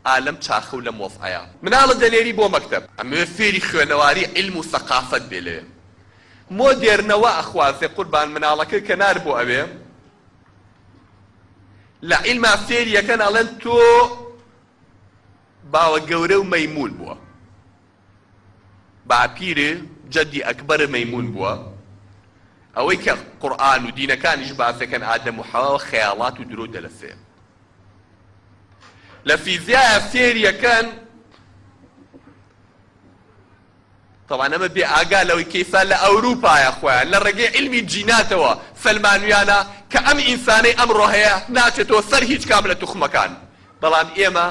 ئا لەم چاخە و لەم وەزعەیە. مناڵە دەنێری بۆ مەکتەب. ئەمەوێ فێری خوێنەواری عیلم و سەقافەت بێ لەوێ مۆدێرنە وا ئەخوازێ قوربان مناڵەکە کە نار بۆ ئەوێ لە عیلما فێری ئەکەن ئەڵێن تۆ باوە گەورە و مەیموون بووە. باپیر جەدی ئەکبەر مەیمون بووە ئەوەی کە قورئان و دینەکانیش باسەکەن ئادەم و حەوا خەیاڵات و درۆو دەلەسەیە لە فیزیایە سێریەکەن طبعا ئەمە بێ ئاگا لەوەی کەیسا لە ئەوروپایە خۆیان لە ڕێگەی علمی جیناتەوە سەلمانویانە کە ئەم ئینسانەی ئەمڕۆ هەیە ناچێتەوە سەر هیچ کام لە توخمەکان بەڵام ئێمە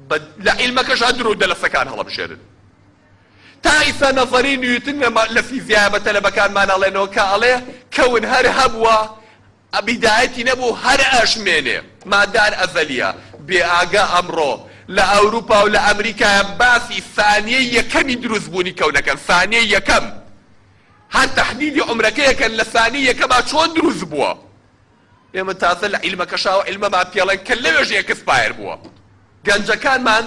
بە لە عیلمەکەشا درۆ و دەلەسەکان هەڵەبژێرن. تا ئیستا نەزەریی نیوتن لە فیزیایە بە تەلەبەکانمان ئەڵێنەوە کە ئەڵێ کەون هەر هەبووە بیدایەتی نەبوو هەر ئەشمێنێ. مادار ئەزەلییە. بێ ئاگا ئەمڕۆ لە ئەوروپا و لە ئەمریکایە باسی سانیەی یەکەمی دروستبوونی کەون ئەکەن. سانیەی یەکەم. هەر تەحدیدی عومرەکەی ئەکەن لە سانیەی یەکەما چۆن دروستبووە. ئێمە تازە لە عیلمە کەشاوە عیلمەمان پێڵێن کە لەوێش ئێکسپایەر بووە. گەنجەکانمان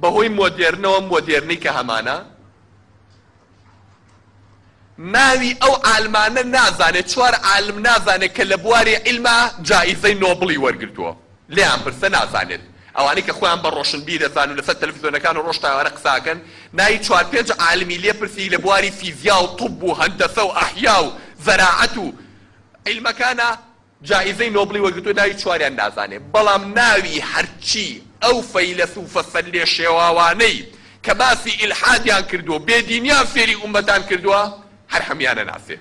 بە هۆی مۆدێرنەوە، ئەم مۆدێرنەی کە هەمانە، ناوی ئەو عالمانە نازانێ، چوار عالم نازانێ کە لە بواری عیلما جائیزەی نۆبڵی وەرگرتووە، لێیان پرسە نازانێت. ئەوانەی کە خۆیان بە ڕۆشنبیر دەزانن و لەسەر تەلەفیزۆنەکان ڕۆژ تا ئێوارە قسە ئەکەن، ناوی چوار پێنج عالمی لێ پرسی لە بواری فیزیا و طب و هەندەسە و ئەحیا و زەراعەت و، عیلمەکانە جائیزەی نۆبڵی وەرگرتووە ناوی چواریان نازانێت بەڵام ناوی هەرچی ئەو فەیلەسوفە سەرلێشێواوانەی کە باسی ئیلحادیان کردووەو بێ دینیان فێری ئومەتان کردووە هەر هەموویانە ناسێ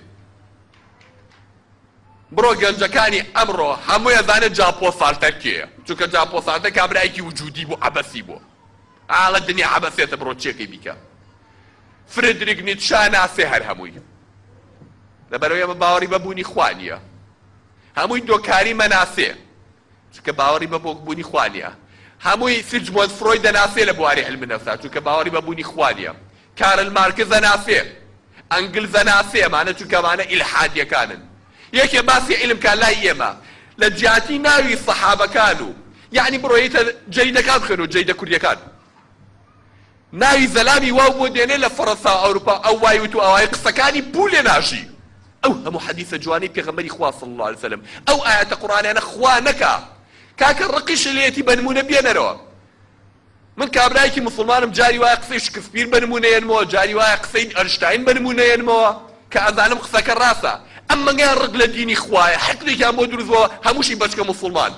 بڕۆ گەنجەکانی ئەمڕۆ هەمووی ئەزانێ جاپۆ سارتەر کێیە چونکە جاپۆ سارتەر کابرایەکی وجودی بوو عەبەسی بووە. ئاڵە دنیا عەبەسێتە بڕۆ چێکەی بیکە فردریک نیتشە ناسێ هەر هەمووی لەبەرەوەی ئەمە باوەڕی بە بوونی خوا نییە هەمووی دۆکاری مەناسێ چونکە باوەڕی بە بۆک بوونی خوا نییە هەمووی سیجمۆند فرۆی دەناسێ لە بواری علم نەفسا چونکە باوەڕی بە بوونی خوا نییە کارل مارکس ئەناسێ، ئەنگلز ئەناسێ، ئەمانە چونکە ئەمانە ئیلحادیەکانن. یەکێ باسی عیلم کا لای ئێمە لە جیاتی ناوی سەحابەکان و یەعنی بڕۆیتە جەریدەکان بخوێنە و جەریدە کوردیەکان ناوی زەلامی واو بۆ دێنێ لە فەڕەنسا و ئەوروپا ئەو وای وت و ئەوای قسەکانی بوو لێ ناژی. ئەو هەموو حەدیسە جوانەی پێغەمبەری خوا صلی اللە علیە وسلم ئەو ئایەتە قورئانیانە خوا نەکا کاکە ڕقیشی لێیەتی بەنموونە بێنەرەوە. من کابرایەکی موسڵمانم جاری وایە قسەی شکسپیر بە نموونە یەنمەوە جاری وایە قسەی ئەرشتاین بە نموونە یەنمەوە کە ئەزانم قسەکە ڕاستە ئەم مەنگەیان ڕق لە دینی خوایە حقدێکیان بۆ دروست بووە هەمووشی بەچکە موسڵمان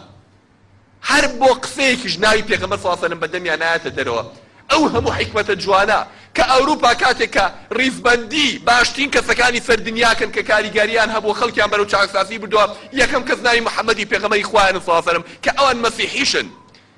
هەر بۆ قسەیەکیش ناوی پێغەمبەر سڵاو سەلەم بە دەمیان نایەتە دەرەوە ئەو هەموو حیکمەتە جوانە کە ئەوروپا کاتێک کە ڕیزبەندی باشترین کەسەکانی سەر دنیاکەن کە کاریگەریان هەبووە خەڵکیان بەرەو چاکسازی بردووە یەکەم کەس ناوی محمدی پێغەمبەری خوایانە سڵاو سەلەم کە ئەوان مەسیحیشن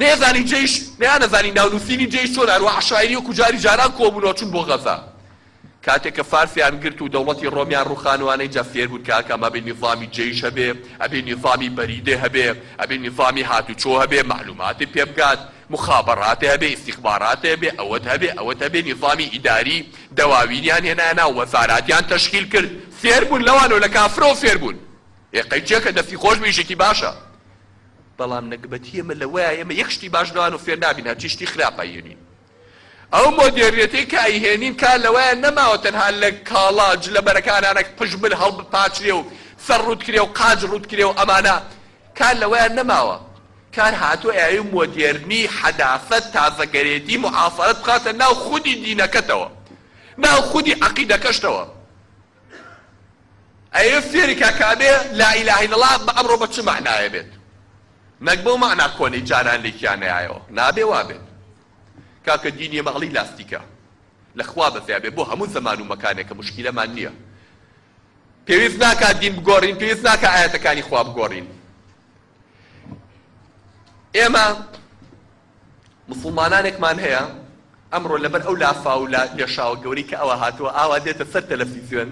نەیەزانی جەیش نەیانەزانی ناو نووسینی جەیش چۆنە هەروەها عەشایری وەکو جاری جاران کۆبوونەوە چوون بۆ غەزە کاتێک کە فارسیان گرت و دەوڵەتی ڕۆمیان ڕووخانوانە ئینجا فێر بوون کە ئاکام ئەبێ نیزامی جەیش هەبێ ئەبێ نیزامی بەریدێ هەبێ ئەبێ نیزامی هاتوچۆ هەبێ مەعلووماتێ پێ بگات موخابەڕاتێ هەبێ ئیستیخباراتێ هەبێ ئەوەت هەبێ ئەوەت هەبێ نیزامی ئیداری دەواوینیان هێنایە ناو وەزاراتیان تەشکیل کرد فێر بوون لەوانەوە لە کافرەوە فێر بوون ئێ قەیچەکە دەستی خۆش بێ ئیشێکی باشە بەڵام نەگبەتی ئێمە لەوەیە ئێمە یەک شتی باش لەوانەوە فێر نابین هەرچی شتی خراپ ئەیهێنین. ئەو مۆدێرنێتەی کە ئەیهێنین کار لەوەیە نەماوە تەنها لە کاڵا جلەبەرەکانانە پژمل هەڵبپاچرێ و سەر ڕووت کرێ و قاچ ڕووت کرێ و ئەمانە کار لەوەیە نەماوە کار هاتووە ئەوێ مۆدێرنی، حەداثەت، تازەگەرێتی، معاصرەت بخاتە ناو خودی دینەکەتەوە ناو خودی عەقیدەکەشتەوە. ئەیەوێت فێری کا کامێ لا ئیلاهە ئیلا ڵا بە ئەمڕۆ بە چ مەعنایە بێت نەک بەو مەعنا کۆنەی جاران لێکیان نەیایەوە نابێ وابێت کاکە دینی ئێمە ئەڵی لاستیکە لە خوا بەزیا بێ بۆ هەموو زەمان و مەکانێکە مشکیلەمان نییە پێویست ناکات دین بگۆڕین پێویست ناکە ئاەتەکانی خوا بگۆڕین ئێمە موسڵمانانێکمان هەیە ئەمڕۆ لەبەر ئەو لافاو و لێشاوە گەورەی کە ئەوە هاتووە ئاوا دێتە سەر تەلەفیزیۆن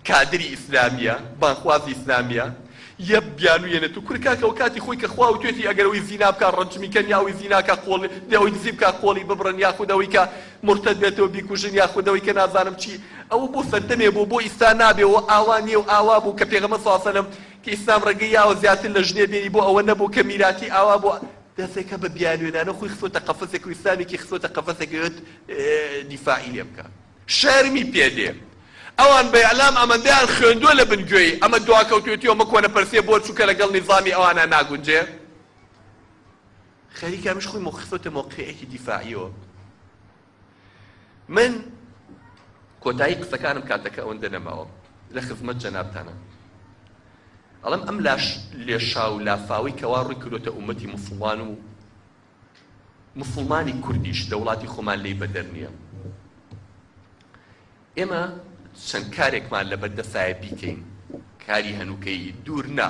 کادری ئیسلامییە بانگخوازی ئیسلامییە یە بیانوویەنێت و کورە کاکە ئەو کاتی خۆی کە خوا وتوێتی ئەگەر ئەوی زینا بکا ڕەجمی کەن یا ئەوی زینا کا قۆڵی دێ ئەوی دزی بکا قۆڵی ببڕن یاخود ئەوی کە مورتەد بێتەوە بیکوژن یاخود ئەوی کە نازانم چی ئەوە بۆ سەردەمێ بوو بۆ ئیستا نابێ و ئاوا نییە و ئاوا بوو کە پێغەمبەر صلی اللە علیه و سلم کە ئیسلام ڕێگەی یاوە زیاتر لە ژنێ بێنی بۆ ئەوە نەبوو کە میراتی ئاوا بوو دەسێکە بە بیانوێنانە خۆی خستۆتە قەفەسێک و ئیسلامێکی خستۆتە قەفەسێک ئەوێت دیفاعی لێ بکا شەرمی پێ دێ ئەوان بە ئیعلام ئەمەندەیان خوێندوە لە بن گوێی ئەمە دواکەوتوێتی و ئەمە کۆنە پەرسیە بۆ چونکە لە گەڵ نیزامی ئەوانا ناگونجێ خەریکە ئەمیش خۆی مۆ خستۆتە مۆقعێکی دیفاعیەوە. من کۆتایی قسەکانم کاتەکە ئەوەندە نەماوە لە خزمەت جەنابتانە ئەڵم ئەم لاش لێشاو لافاوی کەوا ڕووی کردوتە ئومەتی مسلمان و مسلمانی کوردیش لە وڵاتی خۆمان لی بەدەر نییە ئێمە چەند کارێکمان لە بەردەسایە بیکەین کاری هەنووکەی دوور نا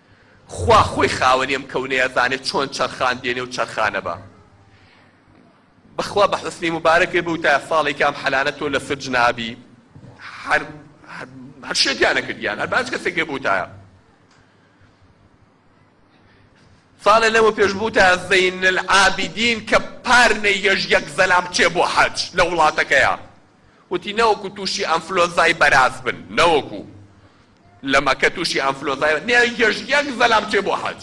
خوا خۆی خاوەنی ئەم کەونەیە ئەزانێ چۆن چەرخان دێنێ و چەرخانە بە بەخوا بە حوسنی موبارەک پێ بوتایە ساڵێکی ئەم حەلانە تۆ لە سجن ئابی هەر هەر شێتیان نەکردیان هەر باج کەسێک پێ بوتایە ساڵێ لەمە پێش بوتە زەین العابدین کە پار نەیهێش یەک زەلام بچێ بۆ حەج لە وڵاتەکەیە وتی نەوەکو تووشی ئەنفلۆنزای بەراز بن نەوەکو لە مەکە توشی ئەنفلۆنزای نێرگەش یەک زەلام چێ بۆ حەج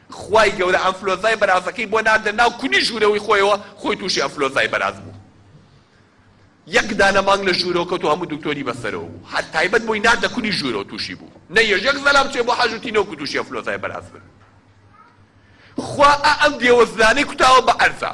خوای گەورە ئەنفلۆنزای بەرازەکەی بۆ ناردە ناو کونی ژورەوەی خۆیەوە خۆی توشی ئەنفلۆنزای بەراز بوو یەک دانە مانگ لە ژورەوە کەوتو هەموو دکتۆری بەسەرەوە بوو هەر تایبەت بۆی ناردە کونی ژورەوە توشی بوو نەیەش یەک زەلام چێ بۆ حەج و تینە وەکو توشی ئەنفلۆنزای بەراز بن خوا ئا ئەم دێوەزلانەی کوتاوە بە عەرزا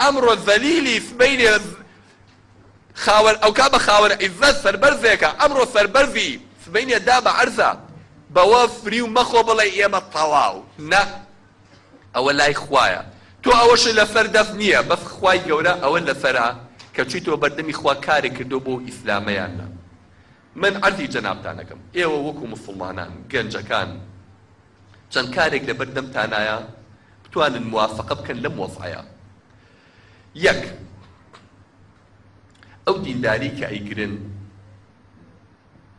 ئەمڕۆ زەلیلی سبەینێ خاوەن ئەوکات بە خاوەن عیزەت سەربەرزێکە ئەمڕۆ سەربەرزی سبەینێ دا بە عەرزە بەوە فریو مەخۆ بڵێ ئێمە تەواو نا ئەوە لای خوایە تۆ ئەوەشت لەسەر دەست نییە بەس خوای گەورە ئەوە لەسەرە کە چویتەوە بەردەمی خوا کارێک کردووە بۆ ئیسلامە یان نا من عەرزی جەنابتان ئەکەم ئێوە وەکو موسڵمانان گەنجەکان چەند کارێک لەبەر دەمتانایە بتوانن موافەقە بکەن لەم وەزعەیا. یەک، ئەو دینداری کە ئەیگرن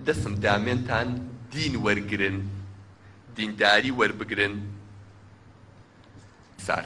دەسم دامێنتان دین وەرگرن، دینداری وەربگرن. سار.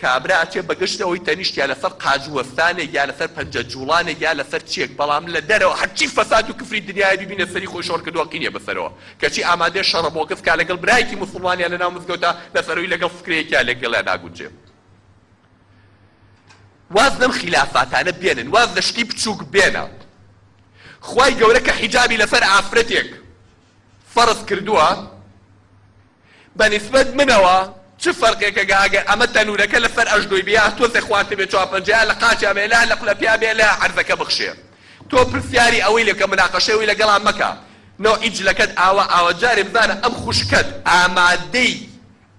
کابرا ئەچێ بە گشت ئەوەی تەنیشت یا لەسەر قاژ وەستانێک یا لەسەر پەنجە جوڵانێک یا لەسەر چیەک بەڵام لە دەرەوە هەرچی فەساد و کفری دنیایە بیبینە سەری خۆی شۆڕ کردوە قینیە بەسەرەوە کەچی ئامادەیە شەڕە بۆگەس بکا لەگەڵ برایەکی موسڵمان یا لەناو مزگەوتا بەس ئەوی لەگەڵ فکرەیەکیا لەگەڵیا ناگونجێ واز لەم خیلافاتانە بێنن واز لە شتی بچوک بێنە خوای گەورە کە حیجابی لەسەر ئافرەتێک فەرز کردوە بە نیسبەت منەوە چ فەرقێکەگە ئەگەر ئەمە تەنوورەکە لە سەر ئەژنۆی بێ ئەه تۆزێ خوارتر بێ چوار پەنجە ئەه لە قاچیا بێ ئەه لە قلە پیا بێ ئەه عەرزەکە بخشێ تۆ پرسیاری ئەوەی لەکە مناقەشەی ئەوی لەگەڵا مەکە نەوعی جلەکەت ئاوا ئاوا جارێ بزانە ئەم خوشکەت ئامادەی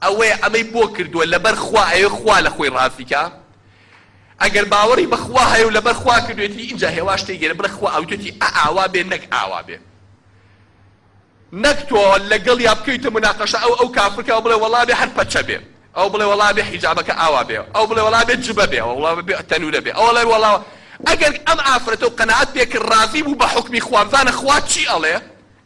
ئەوەیە ئەمەی بۆ کردووە لەبەر خوا ئەوێ خوا لە خۆی ڕازی کا ئەگەر باوەڕی بە خوا هەیە و لەبەر خوا کردوێتی ئینجا هێواش تێگەرە بڵێ خوا ئەوتێتی ئە ئاوا بێ نەک ئاوا بێ. نەک تۆ لەگەڵیا بکەویتە مناقەشە ئەو ئەو کافرکە ئەو بڵێ وەڵا ئەبێ هەر پەچە بێ ئەو بڵێ وەڵا ئەبێ حیجابەکە ئاوا بێ ئەو بڵێ وەڵا ئەبێ جبە بێ ئەو بڵێ وەڵا ئەبێ تەنورە بێ ئەو بڵێ وەڵا ئەگەر ئەم ئافرەتە و قەناعەت پێ کرد ڕازی بوو بە حوکمی خوا بزانە خوا چی ئەڵێ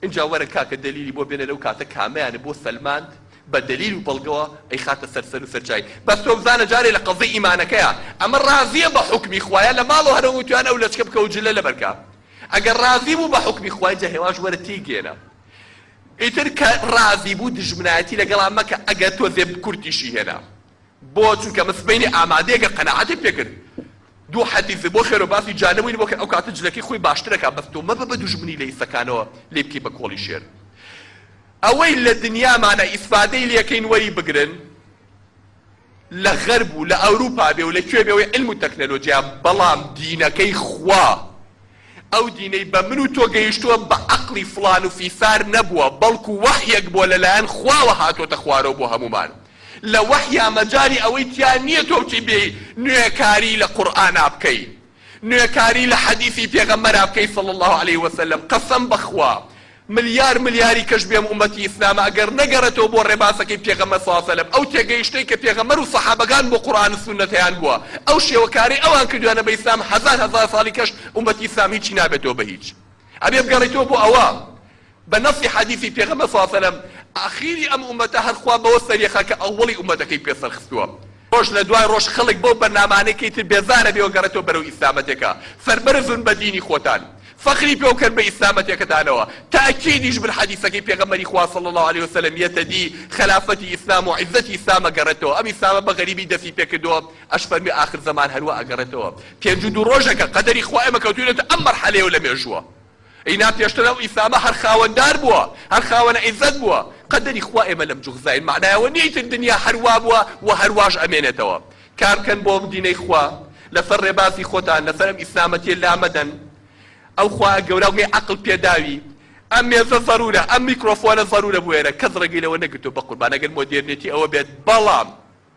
ئینجا وەرە کاکە دەلیلی بۆ بێنە لەو کاتە کامەیانە بۆ سەلماند بە دەلیل و بەڵگەوە ئەیخاتە سەر سەر و سەر چای بەس تۆ بزانە جارێ لە قەزیەی ئیمانەکەیا ئەمە ڕازیە بە حوکمی خوایە لە ماڵەوە هەر ئەوەی وتویانە ئەو لەچکە بکەوە جلە لەبەر کا ئەگەر ڕازی بوو بە حوکمی خوای جا هێواش وەرە تێیگێنە ئیتر کە ڕازی بوو دوژمنایەتی لەگەڵا مەکە ئەگەر تۆزێ کورتیشی هێنا بۆ چونکە من سبەینێ ئامادەیە کە قەناعەتت پێ کرد دوو حەدیث بۆ خێرو باسی جانەوەین بۆ کە ئەو کاتە جلەکەی خۆی باشتر ئەکا بەس تۆ مەبە بە دوژمنی لە ئیسەکانەوە لێی بکەی بە کۆڵی شێر ئەوەی لە دنیامانە ئیسفادەی لێکەین وەری بگرن. لە غەرب و لە ئەوروپا بێ و لە کوێ بێ ئەوەی عیلم و تەکنەلۆجیایە بەڵام دینەکەی خوا ئەو دینەی بە من و تۆ گەیشتووە بە عەقڵی فڵان و فیسار نەبووە بەڵکو وەحیەک بووە لە لایەن خواوە هاتۆتە خوارەوە بۆ هەموومان لە وەحیا مەجالی ئەوەی تیا نییە تۆ بچی بێی نوێکاری لە قورئانا بکەی نوێکاری لە حەدیسی پێغەمبەرا بکەی صلی اللە علیە وسلم قەسەم بەخوا ملیار ملیاری کەش بێم ئومەتی ئیسلامە ئەگەر نەگەڕێتەوە بۆ ڕێبازەکەی پێغەمبەر صلی اللە سلم ئەو تێگەیشتەی کە پێغەمبەر و سەحابەکان بۆ قورئان و سوننەت هەیان بووە ئەو شێوەکارەی ئەوان کردویانە بە ئیسلام هەزار هەزار ساڵی کەش ئومەتی ئیسلام هیچی نابێتەوە بە هیچ ئەبێ بگەڕیتەوە بۆ ئەوە بە نەصی حەدیسی پێغەمبەر صلی اللە سلم ئاخیری ئەم ئومەتە هەر خوا بەوە سەریەخا کە ئەوەڵی ئومەتەکەی پێ سەرخستووە. ڕۆژ لە دوای ڕۆژ خەڵک بەو بەرنامانەی کەی تر بێزارەبێوە گەڕێتەوە بەرەو ئیسلامەتێکە سەربەرزن بە دینی خۆتان فەخری پێ و کەن بە ئیسلامەتێکەتانەوە تاکیدیش بر حەدیسەکەی پێغەمبەری خوا صلی اللە علیە وسلم یەتە دی خەلافەتی ئیسلام و عزەتی ئیسلام ئەگەڕێتەوە ئەم ئیسلامە بە غەریبی دەستی پێ کردووە ئەش فەرمی ئاخر زەمان هەروا ئەگەڕێتەوە پێنج و دوو ڕۆژەکە قەدەری خوا ئێمە کەوتوینەتە ئەم مەرحەلەیەو لە مێژووە ئینا پێشتر ئەو ئیسامە هەر خاوەن دار بووە هەر خاوەن عیزەت بووە قەدەری خوا ئێمە لەم جوغزاین مەعنای ئەوە نیە ئیتر دنیا هەر وابووە و هەر واش ئەمێنێتەوە کار بکەن بۆ ئەم دینەی خوا لەسەر ڕێبازی خۆتان لەسەر ئەم ئیسلامەتیە لامەدەن ئەو خوایە گەورە گەی عەقڵ پێداوی ئەم مێزە زەرورە ئەم میکرۆفۆنە زەرورە بۆ ئێرە کەس ڕێگەی لەوە نەگرتووە بەقوربان ئەگەر مۆدێرنێتی ئەوە بێت بەڵام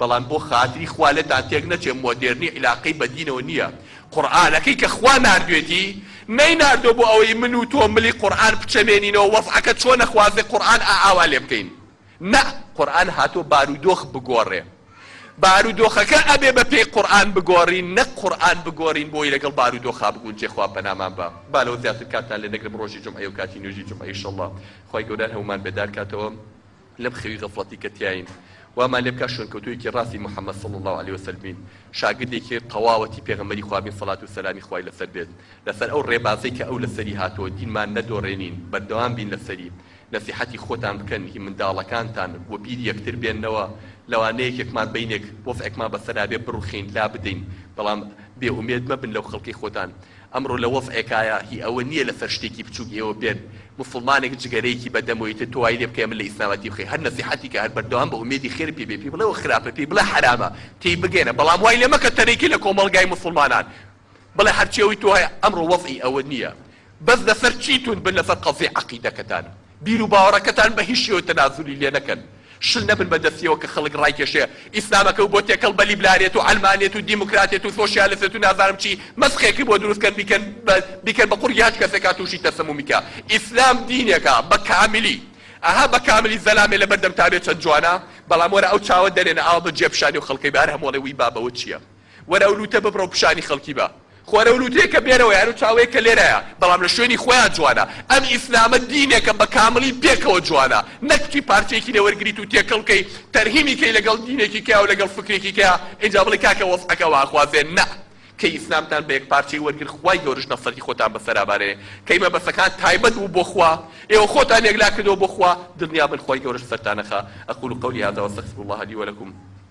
بەڵام بۆ خاتری خوا لێتان تێک نەچێ مۆدێرنی عیلاقەی بە دینەوە نییە، قورئانەکەی کە خوا ناردوێتی نەیناردوە بۆ ئەوەی من و تۆ ملی قورئان بچەمێنینەوە وەزعەکە چۆنە خوازێ قورئان ئا ئاوا لێ بکەین نە قورئان هاتوە بارودۆخ بگۆڕێ بارودۆخەکە ئەبێ بە پێی قورئان بگۆڕین نەک قورئان بگۆڕین بۆی لەگەڵ بارودۆخا بگونجێ خوا پەنامان با با لەوە زیاتر کاتتان لێ نەگرم ڕۆژی جومعەیە و کاتی نوێژی جومعە ئیشەڵڵا خوای گەورە هەموومان بێدار کاتەوە. لەم خەوی غەفڵەتی کە تیاین وامان لێ بکات شوێنکەوتوویەکی ڕاستی محمد صلی اللە علیە وسلم بین، شاگردێکی تەواوەتی پێغەمبەری خوا بین سەڵات و سەلامی خوای لەسەر بێت، لەسەر ئەو ڕێبازەی کە ئەو لەسەری هاتووە دینمان نەدۆڕێنین بەردەوام بین لەسەری، نەسیحەتی خۆتان بکەن هی منداڵەکانتان و بیر یەکتر بێننەوە، لەوانەیە یەکێکمان بینێک وەزعێکمان بەسەرا بێ بڕوخێین لابدەین، بەڵام بێ ئومێد مەبن لەو خەڵکەی خۆتان. ئەمڕۆ لە وەز عێکایە هی ئەوە نیە لە سەر شتێکی بچوک ئێوە بێن موسڵمانێک جگەرەیەکی بە دەمەوە ئیتر تۆ وای لێ بکەیە من لە ئیسلامەتی بخەی هەر نەسیحەتی کە هەر بەردەوام بە ئومێدی خێرت پێ بێ پێی بڵێ وە خراپە پێی بڵێ حەرامە تێی بگەیەنە بەڵام وای لێ مەکە تەریکی لە کۆمەڵگای موسڵمانان بڵێ هەرچی ئەوی تۆ هەیە ئەمڕۆ وەزعی ئەوە نیە بەس لە سەر چی توند بن لە سەر قەزیە عەقیدەکەتان بیرو باوەڕەکەتان بە هیچ شێوە تەنازولی لێ نەکەن شل نەبن بە دەستیەوە کە خەڵک ڕایکێشێ ئیسلامەکەو بۆ تێکەڵ بە لیبرالیەت و عەلمانیەت و دیموکراتیەت و سۆشیالسیەت و نازانم چی مەسخێکی بۆ دروست کەن بیکەن بە بیکەن بە قوڕگی هەچ کەسێکا توشی تەسەمومی کە ئیسلام دینێکە بە کاملی ئەها بە کاملی زەلامێ لە بەردەمتا بێ چەند جوانە بەڵام وەرە ئەو چاوە دەرێنە ئاوا بە جێ پیشانی ئەو خەڵکەی بە هەر هەمۆڵێ وی بابەوە چیە وەرە ئەو لووتە ببڕە و پیشانی خەڵکی بە. خۆ ئەرە ئەو لووتەیەکە بێنەوە یان ئەو چاوەیە کە لێرایە بەڵام لە شوێنی خۆیان جوانە. ئەم ئیسلامە دینێکە بە کامڵی پێکەوە جوانە. نەک تووی پارچەیەکی لێ وەرگریت و تێکەڵ بکەی، تەرهیمی کەی لەگەڵ دینێکی کەیاو لەگەڵ فکرێکی کەیا ئینجا بڵێی کاکە وەزعەکە وانخوازێ. نا. کەی ئیسلامتان بە یەک پارچەی وەرگر خوای گەورەش نەسرەتی خۆتان بەسەرا بارێ. کەی مەبەسەکان تایبەت بوو بۆ خوا ئێوە خۆتان یەکلا کردەوە بۆ خوا. دڵنیا بن خوای گەورەش سەرتان نەخا. اقول قولي هذا واستغفر الله لي ولکم.